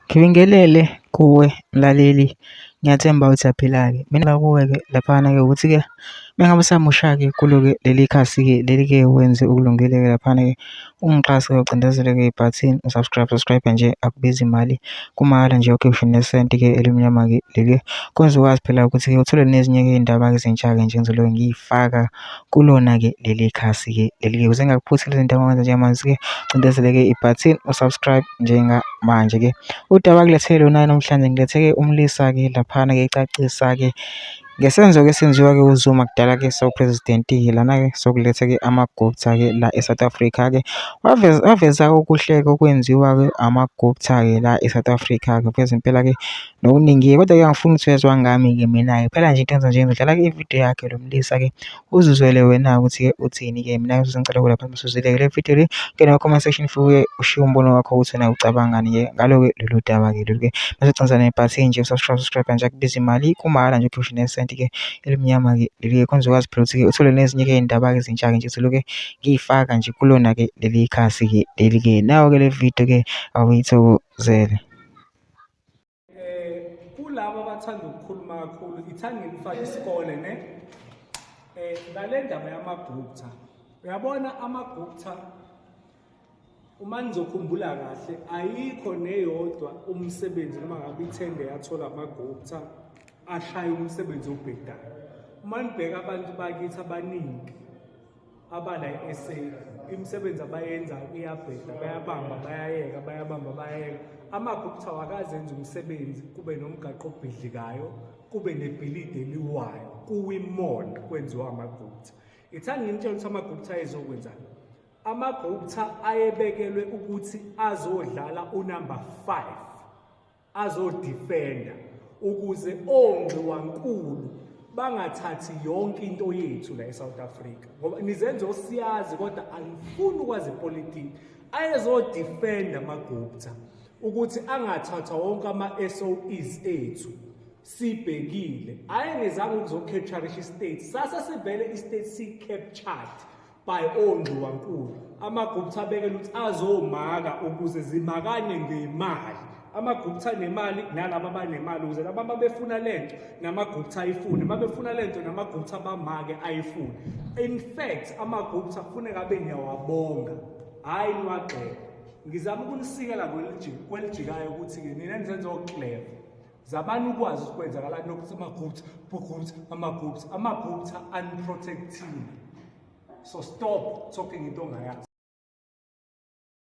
Ngibingelele kuwe mlaleli, ngiyathemba ukuthi uyaphila-ke. Mina kuwe-ke laphana-ke ukuthi-ke uma ngabe usamusha-ke kulo-ke leli khasi-ke leli-ke wenze okulungile-ke laphana-ke ungixhase ngocindezela-ke ibhathini u-subscribe, subscribe-a nje akubizi mali kumahhala nje ukhiphe ngisho nesenti-ke elimnyama-ke leli-ke kwenza ukwazi phela ukuthi-ke uthole nezinye-ke iy'ndaba-ke ezintsha-ke nje engizobe ngiyifaka. kulona-ke leli khasi-ke leli-ke. Ukuze ngingakuphuthi lezi zinto ngoba njengamanje-ke cindezeleke ibhathini u-subscribe njengamanje-ke. Udaba kuletheke lona namhlanje ngiletheke umlisa-ke laphana-ke ecacisa-ke ngesenzo-ke esenziwa-ke uZuma kudala-ke sawuphrezidentingi lana-ke sokuletha-ke amagupta-ke la e-South Africa-ke. Waveza-ke okuhle-ke okwenziwa-ke amagupta-ke la e-South Africa-ke. Veza impela-ke nokuningi-ke. Kodwa-ke angifuni ukuthi uyezwa ngami-ke mina-ke kuphela nje into engizoyenza nje ngizodlala ividiyo yakhe lo mlisa-ke uzizwele wena-ke ukuthi-ke uthini-ke mina ngisuze ngicela ukuvela phansi bese uzwile-ke le vidiyo le ngena kuma-comment section fuke ushiye umbono wakho ukuthi wena ucabangani-ke ngalo-ke lolu daba-ke lolu-ke bese ugcina nebhathini nje subscribe subscribe nje akubizi imali kumahhala nje uphushe nesenti-ke elimnyama-ke leli-ke khona uzokwazi phela ukuthi-ke uthole nezinye-ke iy'ndaba-ke ezintsha-ke nje zilokhu ngiyifaka nje kulona-ke leli khasi-ke leli-ke nayo-ke le vidiyo-ke awuyithokozele. eh kulabo abathanda ukukhuluma kakhulu ithanda ngifaka isikole ne eh ngale ndaba yamagupta uyabona amagupta uma ngizokhumbula kahle ayikho neyodwa umsebenzi noma ngabe ithende yathola amagupta ashaya umsebenzi obhedayo uma nibheka abantu bakithi abaningi abala e-sa imisebenzi abayenzayo iyabheda bayabamba bayayeka bayabamba bayayeka amaphi kuthiwa akazenza umsebenzi kube nomgaqo obhidlikayo kube nebhilidi eliwayo kuwimall kwenziwa amagupta ithani ngimtshela ukuthi amagupta ayezokwenzani amagupta ayebekelwe ukuthi azodlala unumber five azodifenda ukuze onxiwankulu bangathathi yonke into yethu la eSouth Africa ngoba nizenze osiyazi kodwa angifuni ukwazi ipolitiki ayezodefenda amagupta ukuthi angathathwa wonke ama-SOEs ethu sibhekile ayengezanga ukuzocapturisha istate sasa sivele istate si-captured by ongxiwankulu amagupta abekela ukuthi azomaka ukuze zimakane ngemali amagupta nemali nalaba abanemali ukuze laba babefuna lento namagupta ayifune babefuna lento namagupta bamake ayifune in fact amagupta kufuneka abe niyawabonga hhayi niwagxeka ngizama ukunisikela kwelijikayo ukuthi-ke nina nizenza okleva Zamani ukwazi ukuthi kwenzakalani nokuthi amagupta, bugupta, amagupta, amagupta unprotected. So stop talking into ongayazi.